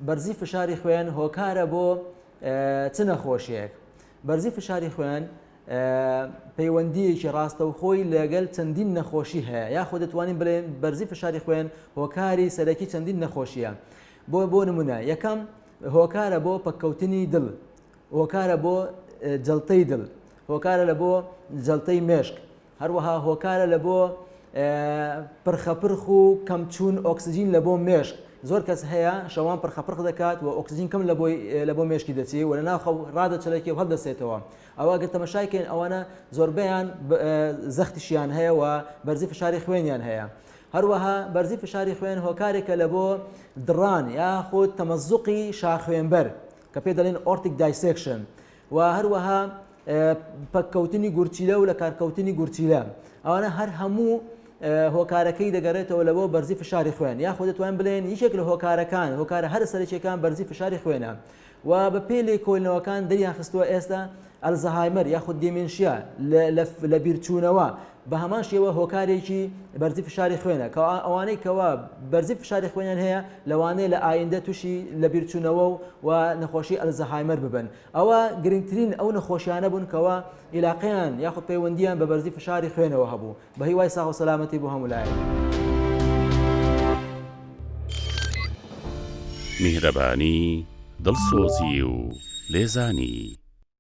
بەرزی فشاری خوێن هۆکارە بۆ چ نەخۆشیەک بەرزی فشاری خوێن پەیوەندیەکی ڕاستەوخۆی لەگەل چەندین نەخۆشی هەیە یاخۆ دەتوانین بڵێن بەرزی فشاری خوێن هۆکاری سەرەکی چەندین نەخۆشیە بۆ بۆ نمونە یەکەم هۆکارە بۆ پەککەوتنی دڵ هۆکارە بۆ جلتەی دڵ هۆکارە لە بۆ جلتەی مێشک هەروەها هۆکارە لە بۆ پرخەپرخ و کەم چوون ئۆکسجین لە بۆ مێشک زۆر کەس هەیە شەوان پرخەپرخ دەکات و ئۆکسجین کەم لە بۆی لە بۆ مێشکی دەچێ و لە ناخە ڕادەچەلەکی و هەڵدەسێتەوە ئەوە گەر تەمەشاکەین ئەوانە زۆربیان زەختیشیان هەیە و بەرزی فشاری خوێنیان هەیە هەروەها بەرزی فشاری خوێن هۆکارێکە لە بۆ دڕان یاخود تەمەزوقی شاخوێنبەر کە پێ دەڵێن ئۆرتیک دایسێکشن و هەروەها پەککەوتنی گورچیلە و لە کارکەوتنی گورچیلە ئەوانە هەر هەموو هۆکارەکەی دەگەڕێتەوە لەوە بەرزی فشاری خوێن یاخۆ دەتوان بڵێن یەکێک لە هۆکارەکان هۆکارە هەر سەرچێکان بەرزی فشاری خوێنە و بە پێ لێ کۆلنەوەکان دەریان خستووە ئێستا ئەلزەهایمەر یاخود دیمنشیا لە بیرچوونەوە بە هەمان شێوە هۆکارێکی بەرزی فشاری خوێنە کە ئەوانەی کەوا بەرزی فشاری خوێنیان هەیە لەوانەیە لە ئایندە تووشی لە بیرچوونەوە و و نەخۆشی ئەلزەهایمەر ببن ئەوە گرنگترین ئەو نەخۆشیانە بوون کەوا عیلاقیان یاخود پەیوەندیان بە بەرزی فشاری خوێنەوە هەبوو بە هیوای ساغ و سەلامەتی بۆ هەمولایە. میهرەبانی، دڵسۆزی و لێزانی.